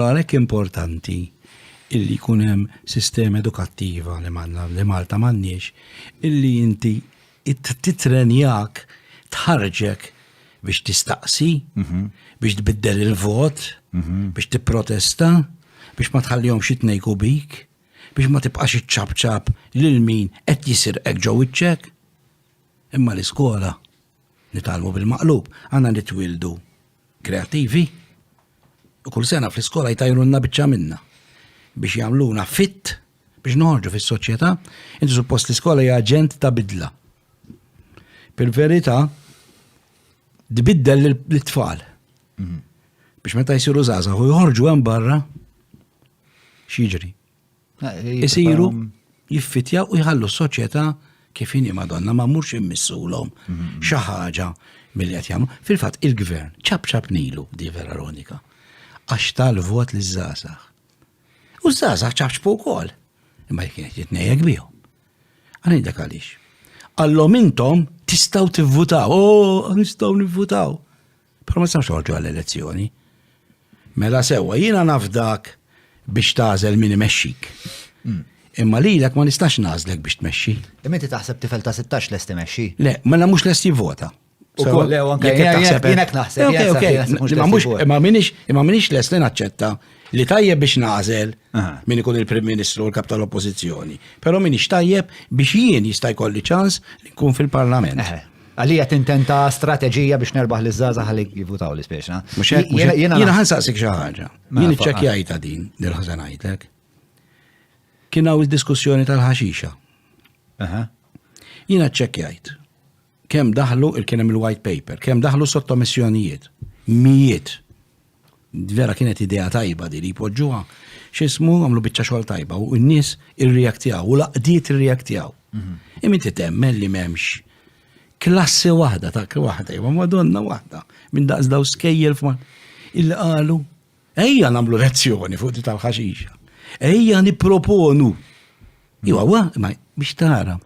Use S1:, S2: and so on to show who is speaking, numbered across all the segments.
S1: Għalhekk importanti illi jkun hemm sistema edukattiva li manna li Malta m'għandniex illi inti titrenjak tħarġek biex tistaqsi, mhm. biex tbiddel il-vot, mhm. biex tipprotesta, biex ma tħallihom xi tnejku bik, biex ma tibqax iċċabċab lil min qed jisirqek ġew iċċek. Imma l-iskola nitalmu bil-maqlub, għandna nitwildu kreativi, kull sena fl-iskola jtajrunna biċċa minna biex jagħmluna fit biex noħorġu fis-soċjetà, inti suppost l-iskola hija aġent ta' bidla. Fil-verità, tbiddel l-tfal. Mhm. Biex meta jsiru żgħażagħ u jħorġu hemm barra, x'jiġri? Isiru jiffitjaw u jħallu s-soċjetà kif inhi madonna ma mhux immissulhom mhm. xi ħaġa mill qed jagħmlu. Fil-fatt il-gvern ċab ċab nilu di vera ronika għax tal-vot li żgħażagħ. U żgħażagħ ċabċbu wkoll. Imma jekk qed jitnejjek bihom. Għalhekk dak għaliex. Għallhom intom tistgħu tivvutaw, oh, nistgħu nivvutaw. Però ma tistax toħorġu għall-elezzjoni. Mela sewwa, jiena nafdak biex tażel min imexxik. Hmm. Imma lilek ma nistax nażlek biex tmexxi. Imma inti taħseb tifel ta' 16 lest imexxi? Le, mela mhux lest jivvota. U koll, le, anke jienek naħseb. Imma minix, imma minix lest li naċċetta li tajjeb biex nażel min ikun il-Prim Ministru u l-Kap tal-Oppożizzjoni. Però minix tajjeb biex jien jista' jkolli ċans li nkun fil-Parlament. Għalija tintenta strateġija biex nerbaħ li zaza għalik jivutaw li speċna. Jena ħansaqsik xaħġa. Mela, Jien iċċekjajta din, dil-ħazanajtek. Kienaw il-diskussjoni tal-ħaxixa. Jena ċċekjajt. Kem daħlu il-kienem il-white paper, kem daħlu sottomissjonijiet. Mijiet. Vera kienet idea tajba di li jpoġġuha x'ismu għamlu biċċa xogħol tajba u n-nies irreaktjaw u laqdiet irreaktjaw. Mhm. Imma inti temmen li m'hemmx klassi waħda ta' waħda, imma madonna waħda minn daqs daw skejjel f'ma illi qalu ejja nagħmlu lezzjoni fuq di tal-ħaxixa. Ejja nipproponu. Iwa, wa, ma biex tara.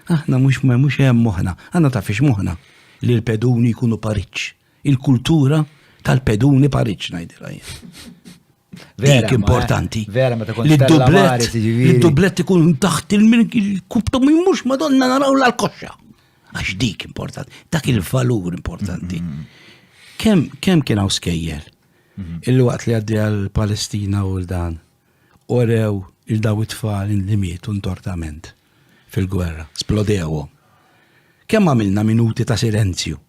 S1: Aħna mhux mhux hemm moħħna, għandna tafix moħħna li l-peduni jkunu pariċ. il-kultura tal-peduni Pariġ ngħidilha jien. Dik importanti. Vera, meta kont dublet. Il-dublet ikun taħt il-kubtu minn mux madonna naraw l-koxxa. Għax dik importanti, dak il-valur importanti. Mm-hmm. Kem, kem kien hawn skejjer? Mm-hmm. Il-waqt li għaddi għal-Palestina u l-dan, orew il-daw it-tfal li mietu ntortament fil-gwerra, splodewhom. Kemm għamilna minuti ta' silenzju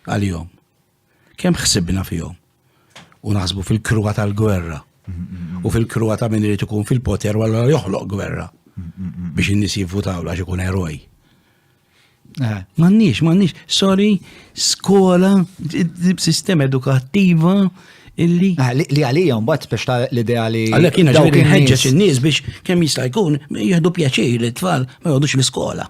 S1: għalihom. Kemm ħsibna fihom u naħsbu fil-kruha tal-gwerra u fil-kruha ta' min irid ikun fil-poter u allura joħloq gwerra biex in-nies jivvutaw għax ikun eroj. Eh. Mannix, mannix, sorry, skola, sistema edukattiva illi. Ah, li għalijom, bat biex ta' l-idea li. Għallek jina ġewri nħedġeċ il-nis biex kem jista' jkun jihdu pjaċir li t-tfal ma jgħodux l-iskola.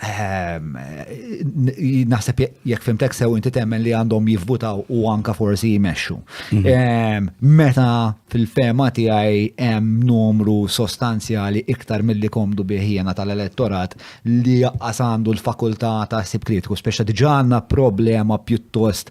S1: Ehm, naħseb jekk fimtek sew inti temmen li għandhom jivvutaw u anka forsi jmexxu. Mhm. Ehm, meta fil-fema tiegħi hemm numru sostanzjali iktar milli komdu biħjena tal-elettorat li jaqqas għandu l-fakultà ta' sib kritiku, speċa diġà għandna problema pjuttost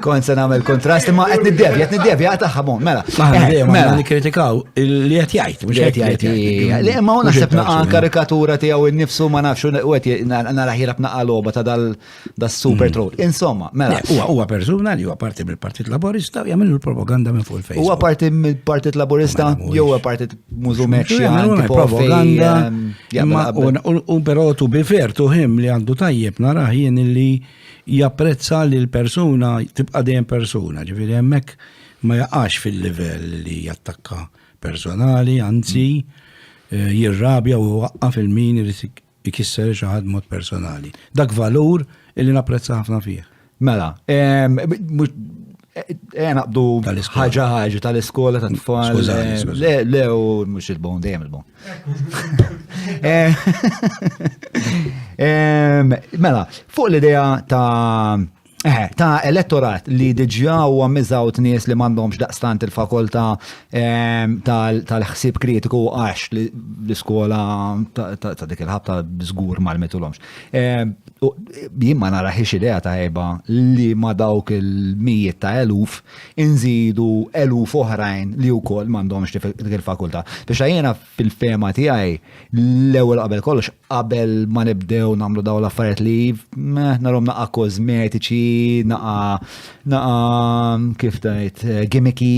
S1: Kon se nagħmel kontrast imma qed niddevja, qed niddevja qed ħabon, mela. Aħna eh, dejjem mela nikkritikaw li qed jgħid, mhux qed jgħid. Li imma hu naħseb naqa' karikatura tiegħu nnifsu ma nafx u qed nara ħira b'naqa' logħba ta' dal super mm. troll. Insomma, mela. Huwa huwa persuna li huwa parti mill-Partit Laburista u jagħmlu l-propaganda minn fuq il-Facebook. Huwa parti mill-Partit Laburista jew huwa partit mużumek xi propaganda. Ehm, u però tu bifer tu ħim li għandu tajjeb naraħ jien li Japprezza li l-persuna tibqa' dejjem persuna, ġifieri hemmhekk ma jaqax fil-livell li jattakka personali, anzi eh, jirrabja u waqqa fil-min irid ikisser xi ħadd mod personali. Dak valur illi napprezza ħafna fih. Mela, em, mhux- Eh, naqbdu ħagġa ħagġa tal-iskola ta' tfal. Eh, le, le, u mux il-bon, dejjem il-bon. Eh, mela, fuq l-idea ta' ta' elettorat li diġa u għammizaw t-nies li mandomx daqstant il-fakulta tal-ħsib kritiku għax l-iskola ta' dik il-ħabta zgur mal-mitulomx. Jien ma naraħiex idea ta' eba li ma dawk il-mijiet ta' eluf inżidu eluf oħrajn li wkoll m'għandhomx dik il-fakultà. Biex jiena fil-fema tiegħi l-ewwel qabel kollox qabel ma nibdew nagħmlu dawn l-affarijiet li narhom naqa' kosmetiċi, naqa' naqa' kif tgħid gimmicky,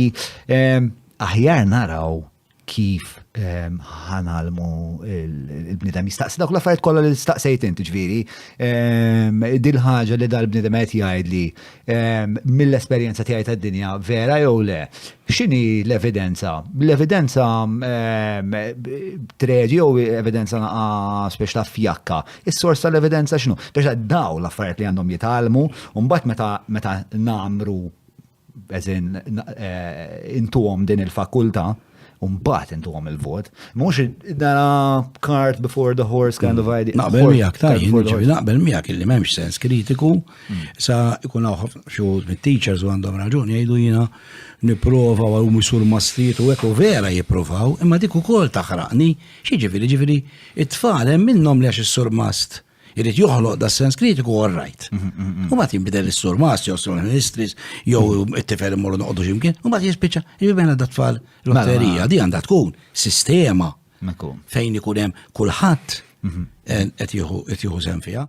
S1: aħjar naraw kif ehm, ħanalmu il-bnidem jistaqsi dawk l-affarijiet kollha li staqsejt inti ġviri. Ehm, dil ħaġa li dal-bnidem qed jgħid li ehm, mill-esperjenza tiegħi tad-dinja vera jew le. X'inhi l-evidenza? L-evidenza treġi jew evidenza naqa spiex ta' fjakka. Is-sors tal-evidenza x'nu? Biex daw l-affarijiet li għandhom jitgħalmu, u mbagħad meta namru Eżin, eh, intuhom din il-fakulta, Umbat intuhom il-vot. Mux dara cart before the horse kind of mm. idea. Naqbel miegħek tajjin, naqbel miegħek illi m'hemmx sens kritiku mm. sa ikun hawn xi mit-teachers u għandhom raġuni jgħidu jiena nipprova u misur mastriet u hekk u vera jippruvaw, imma dik ukoll taħraqni, xi ġifieri ġifieri it-tfal hemm minnhom li għax is-surmast Irrid joħloq da sens kritiku all right. U mbagħad jinbidel is-surmas jew sur ministris jew it-tifel imorru noqogħdu x'imkien, u mbagħad jispiċċa jibena da tfal lotterija di għandha tkun sistema fejn ikun hemm kulħadd mhm. eh, qed jieħu sem fiha.